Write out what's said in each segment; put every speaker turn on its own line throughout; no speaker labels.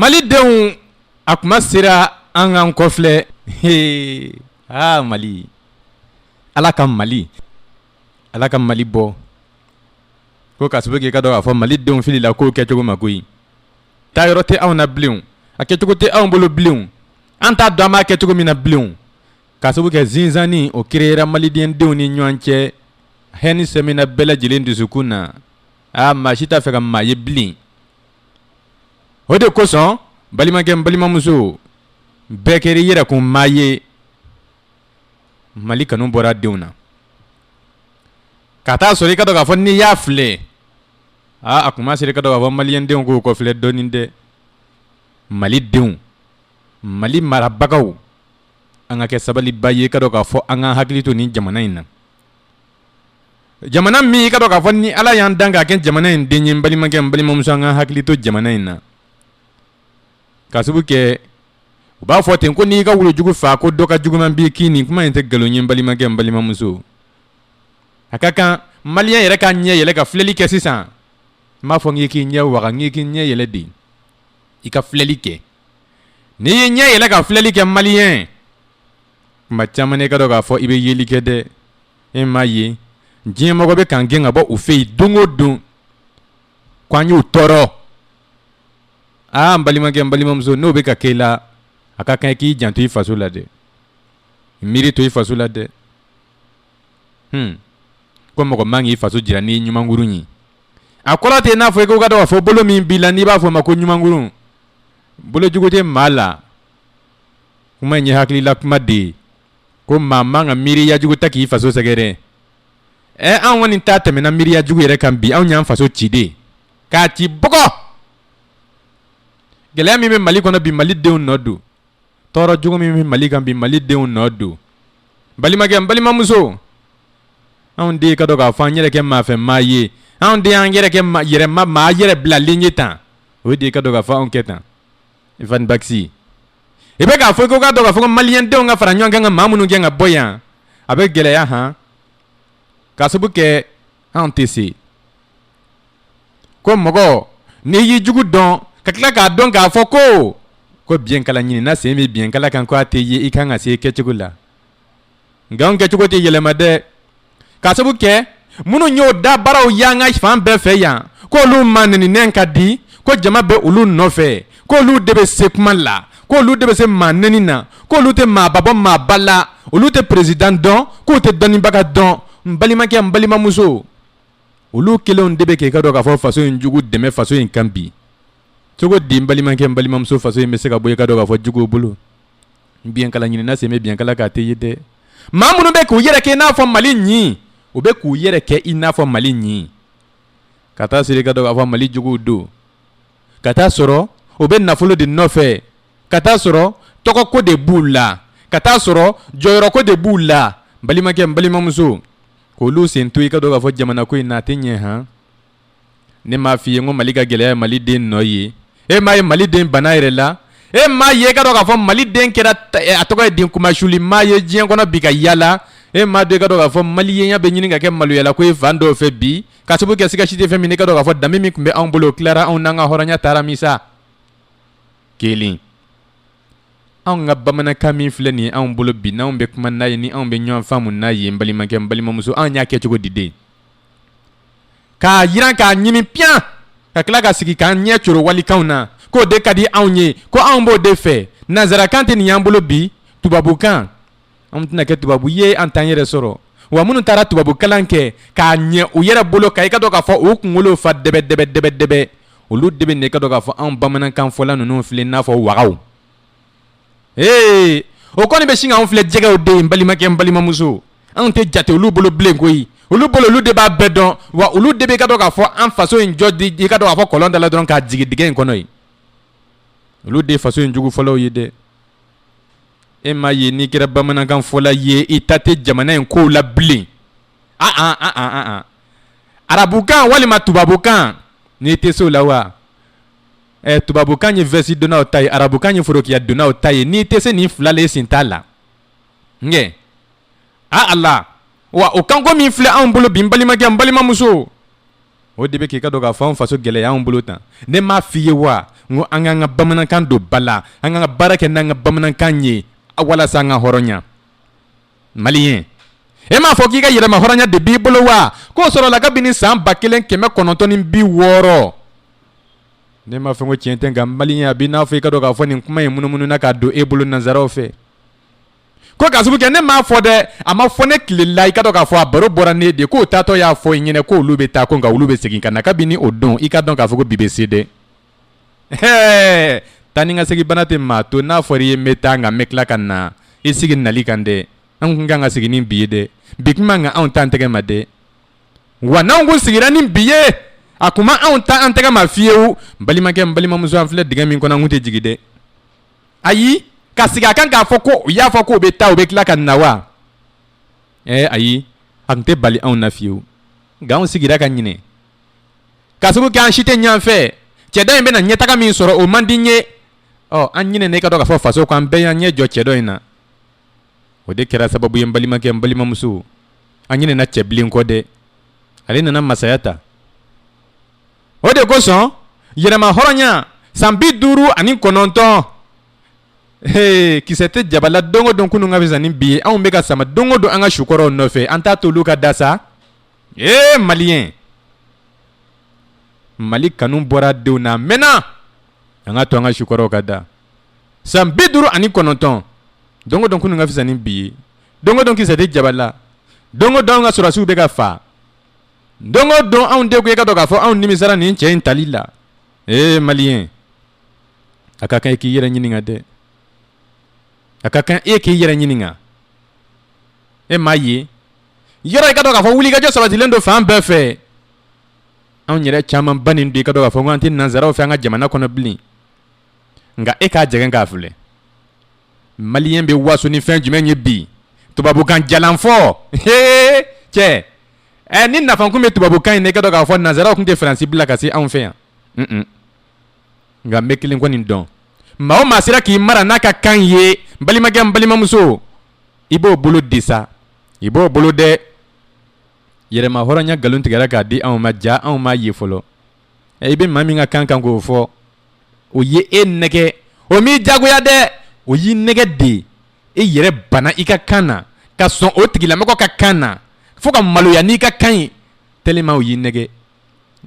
Malidenw a tuma sera an k'an kɔflɛ he aa mali ala ka mali ala ka mali bɔ ko ka sababu k'i ka dɔn k'a fɔ mali denw filila k'o kɛcogo ma koyi taa yɔrɔ tɛ anw na bilen a kɛcogo tɛ anw bolo bilen an t'a dɔn an b'a kɛ cogo min na bilen ka sababu kɛ zizanie o créera malidendenw ni ɲɔgɔn cɛ hɛni sɛmina bɛɛ lajɛlen dusukun na aa maa si t'a fɛ ka maa ye bilen o de kosɔn balimakɛ balimamuso bɛɛ kɛra i yɛrɛ kun maa ye mali kanu bɔra denw na ka taa sɔrɔ i ka dɔn k'a fɔ n'i y'a filɛ aa a tuma sera ka dɔn k'a fɔ maliyɛn denw k'u kɔfilɛ dɔɔnin dɛ mali denw mali marabagaw an ka kɛ sabaliba ye ka dɔn k'a fɔ an ka hakili to nin jamana in na Jamana min i ka dɔn k'a fɔ ni ala y'an dan ka kɛ jamana in den ye balimakɛ n balimamuso an ka hakili to jamana in na ka sabu kɛ u b'a fɔ ten ko n'i ka wulujugu faa ko dɔ ka juguman b'i kin nin kuma in tɛ nkalon ye balimakɛ n balimamuso a ka kan maliyɛn yɛrɛ k'a ɲɛ yɛlɛ ka filɛli kɛ sisan n m'a fɔ n k'i k'i ɲɛ waa n k'i k'i ɲɛ yɛlɛ de i ka filɛli kɛ N'i y'i ɲɛ yɛlɛ ka filɛli kɛ maliyɛn tuma caman ka dɔn k'a fɔ i bɛ yeli kɛ dɛ e m'a ye diɲɛmɔgɔ bɛ k'an gɛn ka bɔ u fɛ yen don o don k'an y'u tɔɔrɔ aa n balimakɛ n balimamuso n'o bɛ ka kɛ i la a ka kan i k'i janto i faso la dɛ miiri to i faso la dɛ h ko mɔgɔ man k'i faso jira n'i ɲumankurun ye a kɔrɔ tɛ n'a fɔ i ko ka dɔn k'a fɔ bolo min b'i la n'i b'a fɔ o ma ko ɲumankurun bolo jugu tɛ maa la kuma in ye hakilila kuma de ye ko maa man ka miiriya jugu ta k'i faso sɛgɛrɛ ɛ an kɔni ta tɛmɛna miiriya jugu yɛrɛ kan bi anw y'an faso ci de k'a ci bɔgɔ gɛlɛya min bɛ mali kɔnɔ bi mali denw nɔ don tɔɔrɔ jugu min bɛ mali kan bi mali denw nɔ don balimakɛ n balimamuso anw de ka dɔn k'a fɔ an yɛrɛ kɛ maa fɛ maa ye anw de y'an yɛrɛ kɛ yɛrɛ ma maa yɛrɛ bilalen ye tan o de ka dɔn ka fɔ anw kɛ tan ifa basi i bɛ k'a fɔ ko ka dɔn ka fɔ maliyɛn denw ka fara ɲɔgɔn kan ka maa minnu gɛn ka bɔ yan a bɛ gɛlɛya hɔn ka sabu kɛ an tɛ se ko mɔgɔ ni y'i jugu dɔn ka tila k'a dɔn k'a fɔ ko ko biyɛnkala ɲinina sen bɛ biyɛnkala kan ko a tɛ ye i kan ka se kɛcogo la nka an kɛcogo tɛ yɛlɛma dɛ ka sabu kɛ minnu y'o da baaraw y'an ka fan bɛɛ fɛ yan ko olu maa neni nɛn ka di ko jama bɛ olu nɔfɛ k'olu de bɛ se kuma la k'olu de bɛ se maa neni na k'olu tɛ maaba bɔ maaba la olu tɛ peresidan dɔn k'u tɛ dɔnnibaga dɔn n balimakɛ n balimamuso olu kelenw de bɛ k'i ka dɔn k'a fɔ faso in jugu dɛmɛ faso in kan bi cogo di n balimakɛ n balimamuso faso in bɛ se ka bɔ i ka dɔn k'a fɔ juguw bolo biyɛnkala ɲinina sen bɛ biyɛnkala kan a tɛ ye dɛ maa minnu bɛ k'u yɛrɛ kɛ i n'a fɔ mali ɲi u bɛ k'u yɛrɛ kɛ i n'a fɔ mali ɲi ka t'a sɔrɔ i ka dɔn k'a fɔ mali juguw don ka t'a sɔrɔ u bɛ nafolo de nɔfɛ ka t'a sɔrɔ tɔgɔko de b'u la ka t'a sɔrɔ jɔyɔrɔko de b'u la n balimakɛ n balimamuso k'olu sen to i ka dɔn k'a fɔ jamana ko in na a tɛ ɲɛ han ne m'a f'i ye n ko mali ka gɛlɛya ye mali den nɔ ye e m'a ye mali den bana yɛrɛ la e m'a ye i ka dɔn k'a fɔ mali den kɛra eh, a tɔgɔ ye den kunmasuli maa ye diɲɛ kɔnɔ bi ka yaala e m'a dɔn i ka dɔn k'a fɔ maliyenya bɛ ɲini ka kɛ maloyala ko ye fan dɔw fɛ bi Ka sabu kɛ siga si tɛ fɛn min na, i ka dɔn k'a fɔ danbe min tun bɛ anw bolo, o tilara anw na, an ka hɔrɔnya taara min sa, kelen. Anw ka bamanankan min filɛ nin ye anw bolo bi, n'anw bɛ kuma n'a ye, ni anw bɛ ɲɔgɔn faamu n'a ye, n balimakɛ, n balimamuso, anw y'a kɛ cogo di den? K'a yiran, k'a ɲimi piyan, ka tila ka sigi k'an ɲɛ coro walikanw na, k'o de ka di anw ye, ko anw b'o de fɛ. Nansarakan tɛ nin y'an bolo bi, tubabukan. an tɛna kɛ tubabu ye an t'an yɛrɛ sɔrɔ wa minnu taara tubabu kalan kɛ k'a ɲɛ u yɛrɛ bolo ka i ka dɔn k'a fɔ u kunkolo fa dɛbɛdɛbɛdɛbɛdɛbɛ olu de bɛ na i ka dɔn k'a fɔ anw bamanankan fɔla ninnu filɛ n'a fɔ wa ee o kɔni bɛ sin k'anw filɛ jɛgɛw de ye n balimakɛ n balimamuso anw tɛ jate olu bolo bilen koyi olu bolo olu de b'a bɛɛ dɔn wa olu de bɛ i ka dɔn k'a fɔ an faso in jɔ di i ka dɔn k'a fɔ kɔlɔn da la dɔrɔn k'a jigin dingɛ in kɔnɔ yen olu de ye faso in jugu fɔlɔw ye dɛ E m'a ye n'i kɛra bamanankanfɔla ye i ta tɛ jamana in kow la bilen a arabukan walima tubabukan n'i tɛ se o la wa ɛ tubabukan ye vɛsi donnaw ta ye arabukan ye forokiya donnaw ta ye n'i tɛ se nin fila la i sen t'a la nkɛ a a la wa o kanko min filɛ anw bolo bi n balimakɛ n balimamuso o de bɛ k'i ka dɔn k'a fɔ an faso gɛlɛya an bolo tan ne m'a f'i ye wa n ko an k'an ka bamanankan don ba la an ka na baara kɛ n'an ka bamanankan ye walasa an ka hɔrɔnya maliyen e m'a fɔ k'i ka yɛrɛmahɔrɔnya de b'i bolo wa k'o sɔrɔla kabini san ba kelen kɛmɛ kɔnɔntɔn ni bi wɔɔrɔ ne m'a fɔ ko tiɲɛ tɛ nka maliyen a b'i n'a fɔ i ka dɔn k'a fɔ nin kuma in munumununa k'a don e bolo nansaraw fɛ ko k'a sabu kɛ ne m'a fɔ dɛ a ma fɔ ne tile la i ka dɔn k'a fɔ a baro bɔra ne de k'o taatɔ y'a fɔ i ɲɛnɛ ko olu bɛ taa ko nka olu bɛ segin ka na kabini o don i ka dɔn k'a fɔ ko bi bɛ se dɛ hɛɛ taa ni ka segin bana tɛ maa to n'a fɔra i ye n bɛ taa nka n bɛ tila ka na i sigi nali kan dɛ an kun kan ka sigi ni bi ye dɛ bi kun man kan anw t'an tɛgɛ ma dɛ wa n'anw kun sigira ni bi ye a kun ma anw ta an tɛgɛ ma fiyewu n balimakɛ n balimamuso an filɛ dingɛ min kɔnɔ an kun tɛ jigin dɛ ayi ka sigi a kan k'a fɔ ko u y'a fɔ k'u bɛ taa u bɛ tila ka na wa ɛɛ ayi a kun tɛ bali anw na fiyewu nka anw sigira ka ɲinɛ k'a sabu kɛ an si tɛ ɲɔgɔn fɛ cɛ dɔ in bɛna ɲɛtaga min sɔrɔ o man di n ye ɔ an ɲinɛna i ka dɔn k'a fɔ faso ko an bɛɛ y'an ɲɛ jɔ cɛ dɔ in na o de kɛra sababu ye n balimakɛ n balimamuso an ɲinɛna cɛ bilen kɔ dɛ ale nana masaya ta o de kosɔn yɛrɛmahɔrɔnya san bi duuru ani kɔnɔntɔn Hey, kisɛ tɛ jaba la don o don kunun ka fisa ni bi ye anw bɛ ka sama don o don an ka sukɔrɔw nɔfɛ an t'a to olu ka da sa ee maliyɛn mali kanu bɔra denw na mɛnna an k'a to an ka sukɔrɔw ka da san bi duuru ani kɔnɔntɔn don o don kunun ka fisa ni bi ye don o don kisɛ tɛ jaba la don o don an ka sɔrɔsiw bɛ ka fa don o don anw de ko i ka dɔn k'a fɔ anw nimisara nin cɛ in tali la ee maliyɛn a ka kan i k'i yɛrɛ ɲininka dɛ a ka kan e k'i yɛrɛ ɲininka e m'a ye yɔrɔ i ka dɔn k'a fɔ wulikajɔ sabatilen don fan bɛɛ fɛ anw yɛrɛ caman bannen don i ka dɔn k'a fɔ ko an tɛ nansaraw fɛ an ka jamana kɔnɔ bilen nka e k'a jɛgɛn k'a filɛ maliyɛn bɛ waso ni fɛn jumɛn ye bi tubabukan jalan fɔ cɛ ɛ ni nafa kun bɛ tubabukan in na i ka dɔn k'a fɔ nansaraw kun tɛ fransi bila ka se anw fɛ yan nka n bɛ kelen kɔni dɔn maa o maa sera k'i mara n'a ka kan ye n balimakɛ n balimamuso i b'o bolo de sa i b'o bolo dɛ yɛrɛmahɔrɔnya nkalon tigɛra k'a di anw ma jaa anw m'a ye fɔlɔ Ɛ i bɛ maa min ka kan kan k'o fɔ o ye e nɛgɛ o m'i jagoya dɛ o y'i nɛgɛ de e yɛrɛ bana i ka kan na ka sɔn o tigilamɔgɔ ka kan na fo ka maloya n'i ka kan ye tellement o y'i nɛgɛ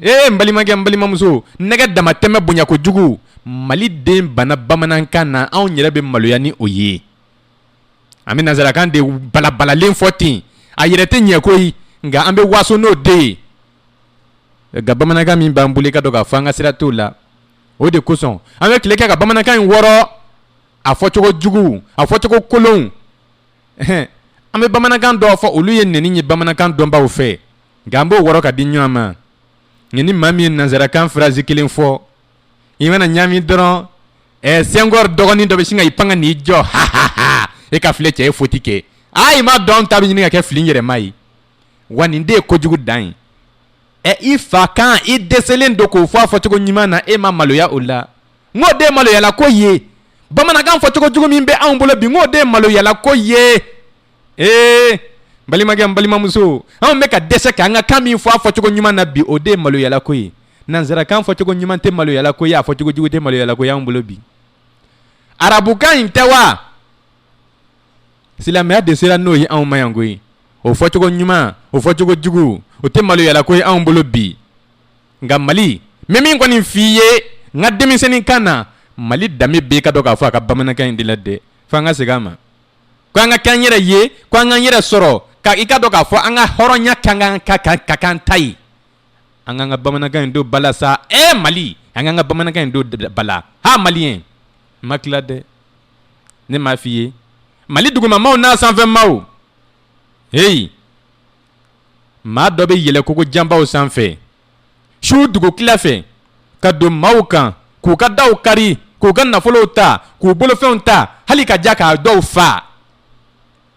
ee n balimakɛ n balimamuso nɛgɛ damatɛmɛ bonya kojugu Mali den bana bamanankan na anw yɛrɛ bɛ maloya ni o ye an bɛ nansarakan de balabalalen fɔ ten a yɛrɛ tɛ ɲɛ koyi nka an bɛ waso n'o de ye nka bamanankan min b'an bolo i ka dɔn k'a fɔ an ka sira t'o la o de kosɔn an bɛ tile kɛ ka bamanankan in wɔrɔ a fɔcogo jugu a fɔcogo kolon an bɛ bamanankan dɔw fɔ olu ye nɛni ye bamanankan dɔnbaw fɛ nka an b'o wɔrɔ k'a di ɲɔgɔn ma nka ni maa min ye nanzarakan phrase kelen fɔ i man'a ɲami dɔrɔn ɛ senghor dɔgɔnin dɔ bɛ sin ka i pan ka n'i jɔ ha e k'a filɛ cɛ ye foti kɛ a i ma dɔn ta bɛ ɲini ka kɛ fili yɛrɛma ye wa nin de ye kojugu dan ye ɛ i fa kan i dɛsɛlen don k'o fɔ a fɔcogo ɲuman na e ma maloya o la n k'o de ye maloyala ko ye bamanankan fɔcogo jugu min bɛ anw bolo bi n k'o de ye maloyala ko ye ee balimakɛ balimamuso anw bɛ ka dɛsɛ k'an ka kan min fɔ a fɔcogo ɲuman na bi o de ye maloyala ko ye nanzarakan fɔcogo ɲuman tɛ maloyala ko ye a fɔcogo jugu tɛ maloyala ko ye anw bolo bi arabukan in tɛ wa silamɛya de sera n'o ye anw ma yan koyi o fɔcogo ɲuman o fɔcogo jugu o tɛ maloyala ko ye anw bolo bi nka mali n bɛ min kɔni f'i ye n ka denmisɛnnin kan na mali danbe bɛ i ka dɔn k'a fɔ a ka bamanankan in de la dɛ fo an ka segin a ma ko an ka kɛ an yɛrɛ ye ko an k'an yɛrɛ sɔrɔ ka i ka dɔn k'a fɔ an ka hɔrɔnya ka kan ta ye an k'an ka bamanankan in don ba la sa e mali an k'an ka bamanankan in don ba la ha maliyɛn n ma tila dɛ ne m'a f'i ye mali dugumamaw n'a sanfɛmaw heyi maa dɔ bɛ yɛlɛ kogo janbaw sanfɛ su dugu tila fɛ ka don maaw kan k'u ka daw kari k'u ka nafolow ta k'u bolofɛnw ta hali ka ja k'a dɔw fa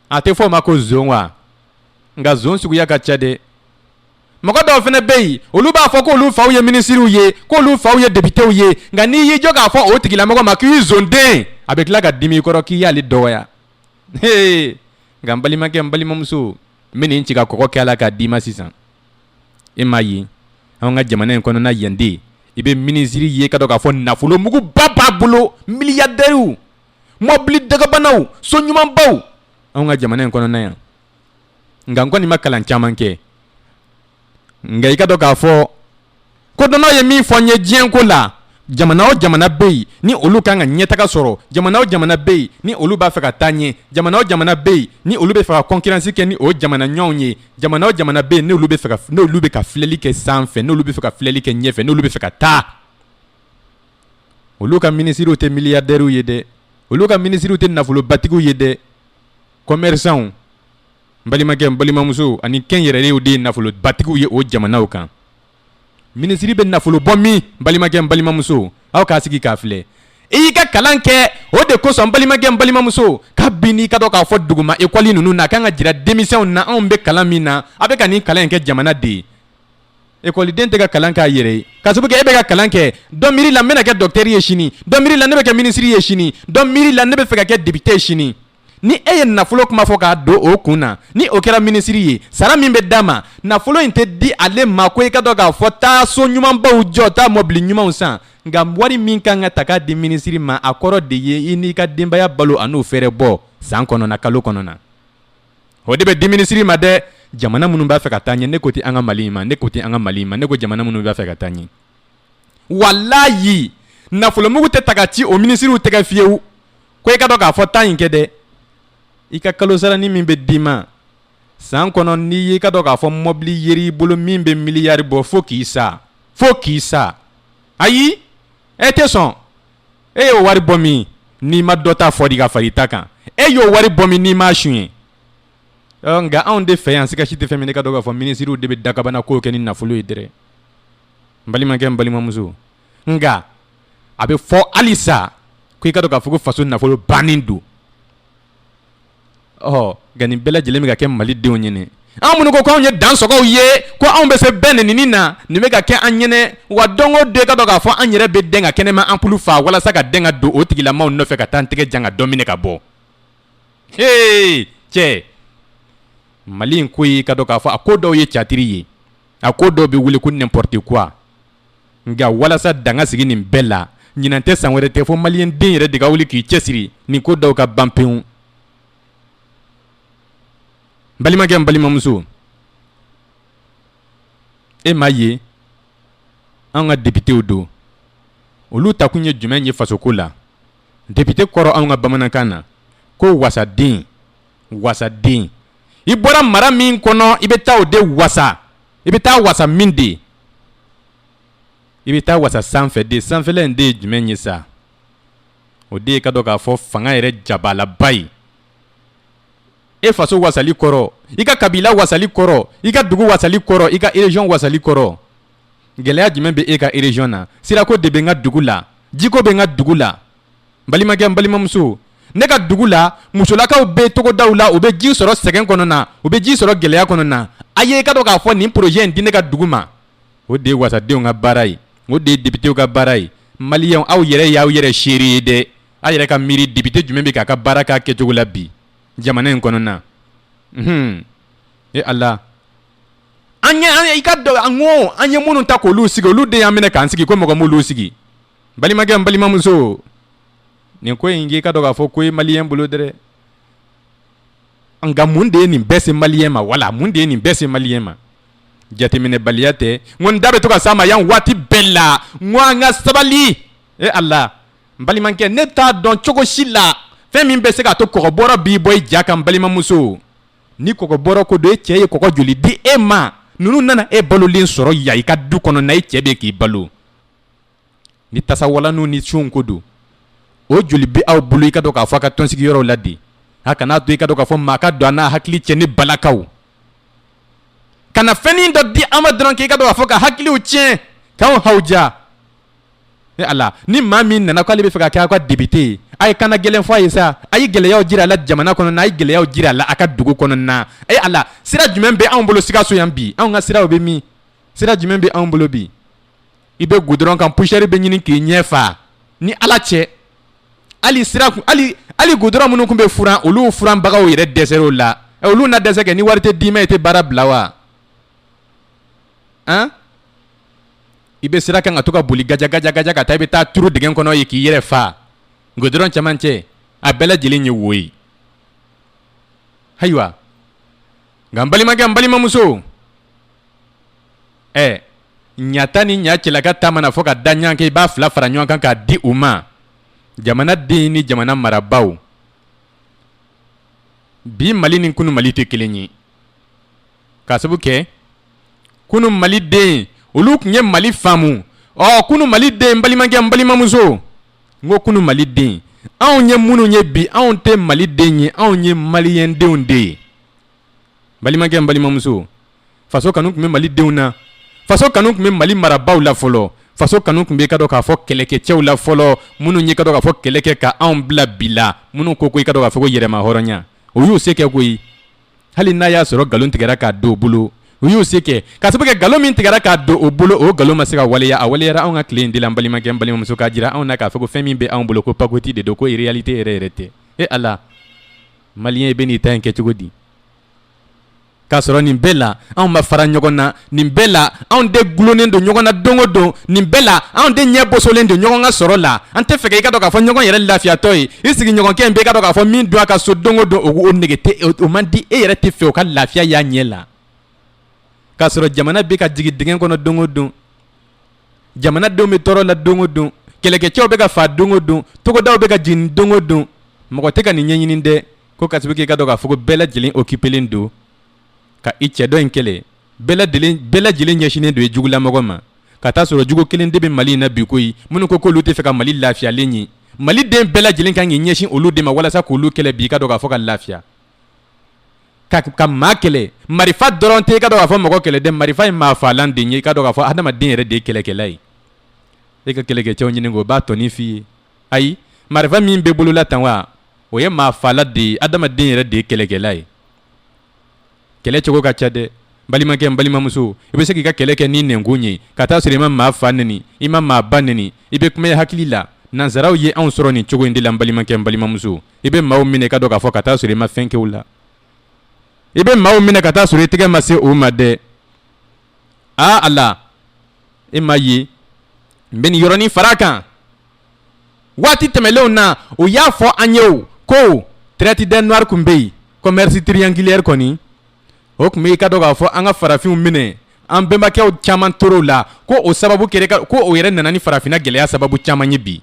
a tɛ fɔ o ma ko zon wa nka zon suguya ka ca dɛ mɔgɔ dɔw fana bɛ yen olu b'a fɔ k'olu faw ye minisiriw ye k'olu faw ye depitew ye nka n'i y'i jɔ k'a fɔ o tigilamɔgɔ ma k'i zonden a bɛ tila ka dimi i kɔrɔ k'i y'ale dɔgɔya hee nka n balimakɛ n balimamuso n bɛ nin ci ka kɔgɔ kɛ a la k'a d'i ma sisan e m'a ye anw ka jamana in kɔnɔna yan de i bɛ minisiri ye ka dɔn k'a fɔ nafolo muguba b'a bolo miliyadɛriw mɔbili dagabanaw so ɲumanbaw anw ka jamana in kɔnɔna yan nka n kɔni ma kalan caman kɛ nka i ka dɔn k'a fɔ kodɔnnaw ye min fɔ n ye diɲɛ ko la jamana o jamana bɛ yen ni olu kan ka ɲɛtaga sɔrɔ jamana o jamana bɛ yen ni olu b'a fɛ ka taa ɲɛ jamana o jamana bɛ yen ni olu bɛ fɛ ka kɔnkransi kɛ ni o jamana ɲɔgɔnw ye jamana o jamana bɛ yen n' bɛ fɛ n'olu bɛ ka filɛli kɛ sanfɛ n'olu bɛ fɛ ka filɛli kɛ ɲɛfɛ n'olu bɛ fɛ ka taa olu ka minisiriw tɛ miliyadɛriw ye dɛ olu ka minisiriw tɛ nafolobatigiw ye dɛ commerçants n balimakɛ n balimamuso ani kɛnyɛrɛyew de ye nafolobatigiw ye o jamanaw kan minisiri bɛ nafolo bɔ min balimakɛ n balimamuso aw k'a sigi k'a filɛ i y'i ka kalan kɛ o de kosɔn balimakɛ n balimamuso kabini i ka dɔn k'a fɔ duguma ekɔli ninnu na a kan ka jira denmisɛnw na anw bɛ kalan min na a bɛ ka nin kalan in kɛ jamana de ye ekɔliden tɛ ka kalan k'a yɛrɛ ye k'a sabu kɛ e bɛ ka kalan kɛ dɔ miiri la n bɛna kɛ dɔkitɛri ye sini dɔ miiri la ne bɛ kɛ minisiri ye sini dɔ miiri la ne bɛ fɛ ka kɛ depite ye sini ni e ye nafolo kuma fɔ k'a don o kun na ni o kɛra minisiri ye sara min bɛ d'a ma nafolo in tɛ di ale ma ko i ka dɔn k'a fɔ taa so ɲumanbaw jɔ taa mɔbili ɲumanw san nka wari min kan ka ta k'a di minisiri ma a kɔrɔ de ye i n'i ka denbaya balo an'u fɛɛrɛ bɔ san kɔnɔna kalo kɔnɔna o de bɛ di minisiri ma dɛ jamana minnu b'a fɛ ka taa ɲɛ ne ko tɛ an ka mali ma ne ko tɛ an ka mali ma ne ko jamana minnu b'a fɛ ka taa ɲɛ walayi nafolomugu tɛ ta ka ci o minisiriw tɛgɛ fiyewu ko i ka dɔn k'a fɔ taa in kɛ dɛ i ka kalosaranin min bɛ d'i ma san kɔnɔ n'i y'i ka dɔn k'a fɔ mɔbili yer'i bolo min bɛ miliyari bɔ fo k'i sa fo k'i sa ayi e tɛ sɔn e y'o wari bɔ min n'i ma dɔ ta fori ka far'i ta kan e y'o wari bɔ min n'i m'a suɲɛ nka anw de fɛ yan sika si tɛ fɛn min n'i ka dɔn k'a fɔ minisiriw de bɛ dagabanakow kɛ ni nafolo ye dɛrɛ n balimakɛ n balimamuso nka a bɛ fɔ hali sa ko i ka dɔn k'a fɔ ko faso nafolo bannen don nka nin bɛɛ lajɛlen bɛ ka kɛ malidenw ɲɛna an minnu ko anw ye dansɔgɔw ye ko anw bɛ se bɛɛ nɛnini na nin bɛ ka kɛ an ɲɛna wa don o don i ka dɔn k'a fɔ an yɛrɛ bɛ dɛn ka kɛnɛma anpulu faa walasa ka dɛn ka don o tigilamaw nɔfɛ ka taa an tɛgɛ jan ka dɔ minɛ ka bɔ h cɛ mali in ko i ka dɔn k'a fɔ a ko dɔw ye catiri ye a ko dɔw bɛ wele ko n'importe quoi nka walasa dan ka sigi nin bɛɛ la ɲinan tɛ san wɛrɛ tɛ fo mali yan den yɛrɛ de ka wuli k'i cɛsiri nin ko dɔw ka ban pewu n balimakɛ n balimamuso e m'a ye an ka depitew don olu ta kun ye jumɛn ye fasoko la depite kɔrɔ an ka bamanankan na ko wasaden wasaden i bɔra mara min kɔnɔ i bɛ taa o de wasa i bɛ taa wasa min de i bɛ taa wasa sanfɛ de sanfɛla in de ye jumɛn ye sa o de ye ka dɔn k'a fɔ fanga yɛrɛ jabalaba ye e faso wasali kɔrɔ i ka kabila wasali kɔrɔ i ka dugu wasali kɔrɔ i ka erejiyɔn wasali kɔrɔ gɛlɛya jumɛn bɛ e ka erejiyɔn na sirako de bɛ n ka dugu la jiko bɛ n ka dugu la balimakɛ n balimamuso ne ka dugu la musolakaw bɛ togodaw la u bɛ ji sɔrɔ sɛgɛn kɔnɔna u bɛ ji sɔrɔ gɛlɛya kɔnɔna a ye i ka dɔn k'a fɔ nin projet in di ne ka dugu ma o de ye wasadenw ka baara ye o de ye députéw ka baara ye maliyɛnw aw yɛrɛ y'aw yɛrɛ seere ye dɛ a yɛrɛ ka miiri député jumɛn bɛ k'a ka baara k'a kɛcogo la bi jamana in kɔnɔna unhun e ala an ye an ye i ka dɔn an ko an ye minnu ta k'olu sigi olu de y'an minɛ k'an sigi ko mɔgɔ m'olu sigi balimakɛ n balimamuso nin ko in k'i ka dɔn k'a fɔ ko ye maliyɛn bolo dɛrɛ nka mun de ye nin bɛɛ se maliyɛn ma wala mun de ye nin bɛɛ se maliyɛn ma jateminɛbaliya tɛ n ko n da bɛ to ka s'a ma yan waati bɛɛ la n ko an ka sabali e ala n balimakɛ ne t'a dɔn cogo si la fɛn min bɛ se k'a to kɔgɔbɔrɔ b'i bɔ i ja kan balimamuso ni kɔgɔbɔrɔ ko don e cɛ ye kɔgɔ joli di e ma ninnu nana e balolen sɔrɔ yan i ka du kɔnɔna i cɛ bɛ k'i balo ni tasawalanw ni siyo ko don o joli bɛ aw bolo i ka dɔn k'a fɔ a ka tɔnsigiyɔrɔw la de a kana to i ka dɔn k'a fɔ maa ka don a n'a hakili cɛ ni balakaw ka na fɛn dɔ di an ma dɔrɔn k'i ka dɔn k'a fɔ ka hakiliw tiɲɛ k'anw hawuja ala ni maa min nana k'ale bɛ fɛ ka kɛ aw ka député ye a ye kan gɛlɛn fɔ a ye sa a ye gɛlɛya jira a la jamana kɔnɔ a ye gɛlɛya jira a la a ka dugu kɔnɔna ala sira jumɛn bɛ anw bolo sikaso yan bi anw ka siraw bɛ min sira jumɛn bɛ anw bolo bi i bɛ goudron kan poussière bɛ ɲini k'i ɲɛ fa ni ala cɛ hali sira hali goudron minnu tun bɛ furan olu furanbagaw yɛrɛ dɛsɛra o la olu na dɛsɛ kɛ ni wari tɛ d'i ma i tɛ baara bila wa i bɛ sira kan ka to ka boli gajagajaja ka taa i bɛ taa turu dingɛ kɔnɔ ye k'i yɛrɛ faa goudron cɛmancɛ a bɛɛ lajɛlen ye wo ye ayiwa nka n balimakɛ n balimamuso ɛ ɲa ta ni ɲa cɛlaka ta mana fɔ ka da ɲɔgɔn kan i b'a fila fara ɲɔgɔn kan k'a di u ma jamana den ni jamana marabaaw bi mali ni kunu mali tɛ kelen ye k'a sabu kɛ kunu mali den olu tun ye mali faamu ɔ kunu mali den n balimakɛ n balimamuso n ko kunu mali den anw ye minnu ye bi anw tɛ mali den ye anw ye maliyɛndenw de ye balimakɛ n balimamuso faso kanu tun bɛ mali denw na faso kanu tun bɛ mali marabaaw la fɔlɔ faso kanu tun bɛ ka dɔn k'a fɔ kɛlɛkɛcɛw la fɔlɔ minnu ye ka dɔn k'a fɔ kɛlɛ kɛ ka anw bila bi la minnu ko i ka dɔn k'a fɔ yɛrɛmahɔrɔnya o y'u se kɛ koyi hali n'a y'a sɔrɔ nkalon tigɛra k'a don u bolo u y'u se kɛ k'a sababu kɛ nkalon min tigɛra k'a don u bolo o nkalon ma se ka waleya a waleyara anw ka tile in de la n balimakɛ n balimamuso k'a jira anw na k'a fɔ ko fɛn min bɛ anw bolo ko pakoti de don ko réalité yɛrɛ yɛrɛ tɛ e ala Maliyɛn i bɛ n'i ta in kɛ cogo di k'a sɔrɔ nin bɛɛ la anw ma fara ɲɔgɔn na nin bɛɛ la anw de dulonnen don ɲɔgɔn na don o don nin bɛɛ la anw de ɲɛ bosolen don ɲɔgɔn ka sɔrɔ la an tɛ fɛ i ka dɔn k'a fɔ ɲɔgɔn yɛrɛ lafiyatɔ ye i sigiɲɔgɔnkɛ in bɛ ka dɔn k'a fɔ min don a ka so don o don o nege tɛ o man di e yɛrɛ tɛ fɛ o ka lafiya y'a ɲɛ la k'a sɔrɔ jamana bɛ ka jigin dingɛ kɔnɔ don o don jamanadenw bɛ tɔɔrɔ la don o don kɛlɛkɛcɛw bɛ ka fa don o don togodaw bɛ ka jeni don o don mɔgɔ tɛ ka nin ɲɛɲini dɛ ko ka sabu k'i ka dɔn k'a fɔ ko bɛɛ lajɛlen occupelen don ka i cɛ dɔ in kɛlɛ bɛɛ lajɛlen ɲɛsinnen don i jugulamɔgɔ ma ka taa sɔrɔ jugu kelen de bɛ mali in na bi koyi minnu ko k'olu tɛ fɛ ka mali lafiyalen ye maliden bɛɛ lajɛlen kan k'i ɲɛsin olu de ma walasa k'olu kɛlɛ bi i ka dɔn k'a fɔ ka lafiya Ka maa kɛlɛ marifa dɔrɔn tɛ i ka dɔn k'a fɔ mɔgɔ kɛlɛ dɛ marifa ye maa faalan de ye i ka dɔn k'a fɔ hadamaden yɛrɛ de ye kɛlɛkɛla ye e ka kɛlɛkɛcɛw ɲininka o b'a tɔnin f'i ye ayi marifa min bɛ bolola tan wa o ye maa faalan de ye hadamaden yɛrɛ de ye kɛlɛkɛla ye kɛlɛcogo ka ca dɛ balimakɛ balimamuso i bɛ se k'i ka kɛlɛ kɛ ni nɛnkun ye ka taa sɔrɔ i ma maa fa neni i ma maa ba neni i bɛ kuma i hakili la nansaraw ye anw sɔrɔ nin cogo in de la balimakɛ balimamuso i bɛ maaw minɛ i ka dɔn k'a fɔ ka taa sɔrɔ i ma fɛn kɛ o la i bɛ maaw minɛ ka taa sɔrɔ i tɛgɛ ma se o ma dɛ aa Ala e m'a ye n bɛ nin yɔrɔnin fara a kan waati tɛmɛnlenw na o y'a fɔ an ye o ko traite des noirs tun bɛ yen commerce triangulaire kɔni o tun bɛ i ka dɔn k'a fɔ an ka farafinw minɛ an bɛnbakɛw caman tor'o la ko o sababu kɛ ko o yɛrɛ nana ni farafinna gɛlɛya sababu caman ye bi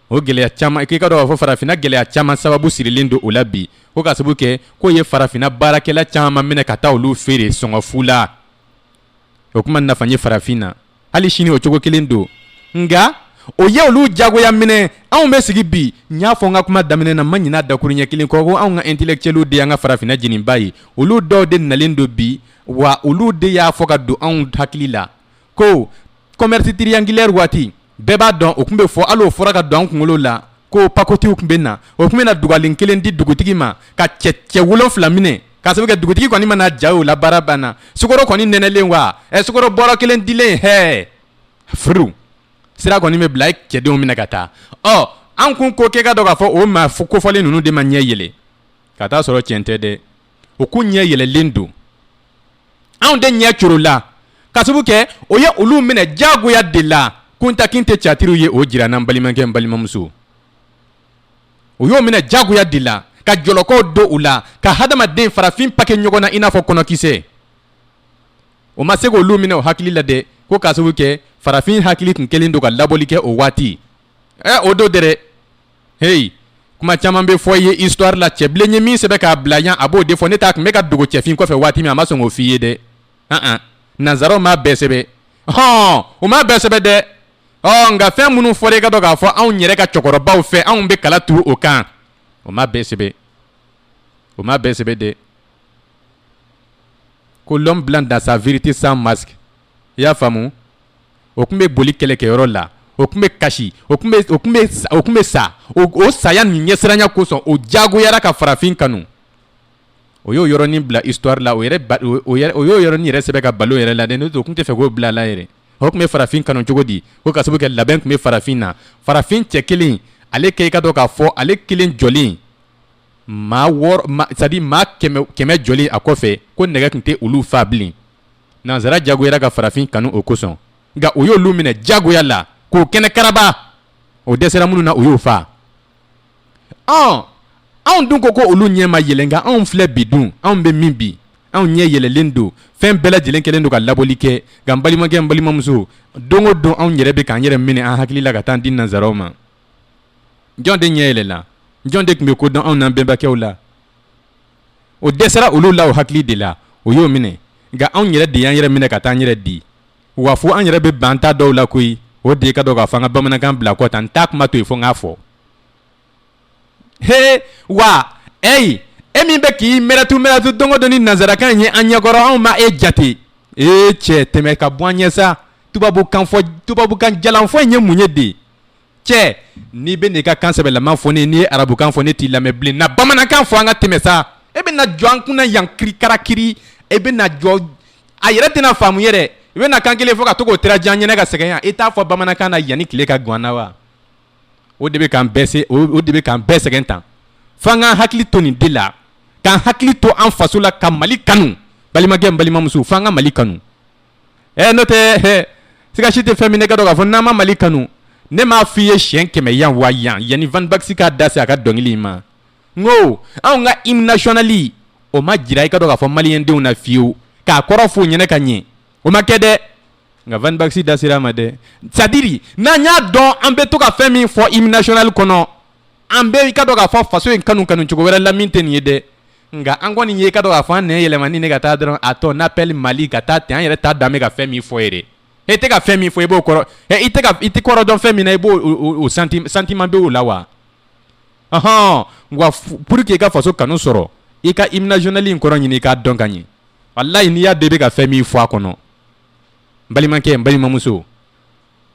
O gɛlɛya caman k'i ka dɔn k'a fɔ farafinna gɛlɛya caman sababu sirilen don o la bi ko ka sabu kɛ k'o ye farafinna baarakɛla caman minɛ ka taa olu feere sɔngɔfu la o tun ma nafa ye farafin na hali sini o cogo kelen don nka o ye olu diyagoya minɛ anw bɛ sigi bi n y'a fɔ n ka kuma daminɛ na ma ɲin'a dakuru ɲɛ kelen kɔ ko anw ka intellectuels de y'an ka farafinna jeniba ye olu dɔw de nalen don bi wa olu de y'a fɔ ka don anw hakili la ko commerce triangulaire waati bɛɛ b'a dɔn o tun bɛ fɔ hali o fɔra ka don an kunkolo la ko pakotiw tun bɛ na o tun bɛ na dugalen kelen di dugutigi ma ka cɛ cɛ wolonfila minɛ k'a sababu kɛ dugutigi kɔni mana ja o la baara banna sukaro kɔni nɛnɛlen wa ɛ sukaro bɔrɔ kelen dilen hɛ furu sira kɔni bɛ bila cɛdenw minɛ ka taa ɔ an kun ko kɛ ka dɔn k'a fɔ o maa kofɔlen ninnu de ma ɲɛ yɛlɛ ka t'a sɔrɔ cɛn tɛ dɛ o kun ɲɛ yɛlɛlen don anw de ɲɛ corola ka sabu kɛ o ye olu minɛ diyagoya de la Kunta Kinte catiriw ye o jir'an na n balimakɛ n balimamuso u y'o minɛ diyagoya de la ka jɔlɔkɔw don u la ka hadamaden farafin pake ɲɔgɔn na i n'a fɔ kɔnɔkisɛ o ma se k'olu minɛ o hakili la dɛ ko ka sabu kɛ farafin hakili tun kɛlen don ka labɔli kɛ o waati ɛ o don dɛ heyi kuma caman bɛ fɔ i ye histoire la cɛbilen ye min sɛbɛn k'a bila yan a b'o de fɔ n'o t'a tun bɛ ka dogo cɛfin kɔfɛ waati min a ma sɔn k'o f'i ye dɛ an an nanzaraw m'a bɛɛ sɛbɛn hɔn o m'a bɛɛ sɛbɛn dɛ ɔ nka fɛn minnu fɔra i ka dɔn k'a fɔ anw yɛrɛ ka cɛkɔrɔbaw fɛ anw bɛ kala turu o kan o m'a bɛɛ sɛbɛn o m'a bɛɛ sɛbɛn dɛ ko l'homme blanc dans sa vérité sans masque i y'a faamu o tun bɛ boli kɛlɛkɛyɔrɔ la o tun bɛ kasi o tun bɛ sa o saya nin ɲɛsiranya kosɔn o jagoyara ka farafin kanu o y'o yɔrɔnin bila histoire la o y'o yɔrɔnin yɛrɛ sɛbɛn ka balo yɛrɛ la dɛ n'o tɛ o tun tɛ fɛ k'o bila a la yɛrɛ o tun bɛ farafin kanu cogo di ko ka sababu kɛ labɛn tun bɛ farafin na farafin cɛ kelen ale ke i ka dɔn k'a fɔ ale kelen jɔlen c'est-à-dire maa kɛmɛ jɔlen a kɔfɛ ko nɛgɛ tun tɛ olu fa bilen nanzara jagoyara ka farafin kanu o kosɔn nka o y'olu minɛ jagoya la k'o kɛnɛ karaba o dɛsɛra minnu na o y'o faa ɔ anw dun ko ko olu ɲɛ ma yɛlɛ nka anw filɛ bi dun anw bɛ min bi anw ɲɛ yɛlɛlen don fɛn bɛɛ lajɛlen kɛlen don ka labɔli kɛ nka n balimakɛ n balimamuso don o don anw yɛrɛ bɛ k'an yɛrɛ minɛ an hakili la ka taa an di nanzaraw ma jɔn de ɲɛ yɛlɛla jɔn de tun bɛ ko dɔn anw n'an bɛnbakɛw la o dɛsɛra olu la o hakili de la o y'o minɛ nka anw yɛrɛ de y'an yɛrɛ minɛ ka taa an yɛrɛ di wa fo an yɛrɛ bɛ ban ta dɔw la koyi o de ka dɔn k'a fɔ an ka bamanankan bila kɔ tan n t'a kuma to yen fo n k'a fɔ he wa eyi e min bɛ k'i mɛrɛtu mɛrɛtu don o don ni nanzarakan ye an ɲɛkɔrɔ anw ma e jate ee cɛ tɛmɛ ka bɔ an ɲɛ sa tubabukan fɔ tubabukan jalanfɔ in ye mun ye de cɛ n'i bɛ n'i ka kan sɛbɛlama fɔ ne ye n'i ye arabukan fɔ ne t'i lamɛn bilen na bamanankan fɔ an ka tɛmɛ sa e bɛ na jɔ an kunna yan kirikarakiri e bɛ na jɔ a yɛrɛ tɛna faamu yɛrɛ i bɛ na kan kelen fɔ ka to k'o tira jan ɲɛnɛ ka sɛgɛn yan i t'a fɔ bamanankan na yanni tile ka gwan na wa o de bɛ k'an bɛɛ se o de bɛ k'an bɛɛ sɛgɛn tan fo an k'an hakili to nin de la k'an hakili to an faso la ka Mali kanu balimakɛ n balimamuso fo an ka Mali kanu. ɛ n'o tɛ siga si tɛ fɛn min na i ka dɔn k'a fɔ n'an ma mali kanu ne m'a f'i ye siyɛn kɛmɛ yan wa yan yanni Van Baxy k'a da se a ka dɔnkili in ma n ko anw ka hymne national o ma jira i ka dɔn k'a fɔ maliyɛndenw na fiyewu k'a kɔrɔ f'u ɲɛna ka ɲɛ o ma kɛ dɛ nka Van Baxy da sera a ma dɛ c'est-à-dire n'an y'a dɔn an bɛ to ka fɛn min fɔ hymne national kɔnɔ an bɛ i ka dɔn k'a fɔ faso in kanu kanucogo wɛrɛ la min tɛ nin ye dɛ nka an kɔni ye i ka dɔn k'a fɔ an nɛn yɛlɛma nin na ka taa dɔrɔn à ton appel Mali ka taa ten an yɛrɛ t'a dɔn an bɛ ka fɛn min fɔ yɛrɛ e tɛ ka fɛn min fɔ i b'o kɔrɔ i i tɛ kɔrɔ dɔn fɛn min na i b'o sentiment b'o la wa ahɔn wa pour que i ka faso kanu sɔrɔ i ka hymne national in kɔrɔ ɲini i k'a dɔn ka ɲɛ walayi n'i y'a dɔn i bɛ ka fɛn min fɔ a kɔnɔ n balimakɛ n balimamuso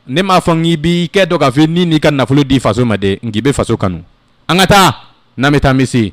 ne m'a fɔ k'i b'i kɛ dɔ k'a fɔ i ni n'i ka nafolo di faso ma dɛ nk'i bɛ faso kanu an ka taa n'an bɛ taa misi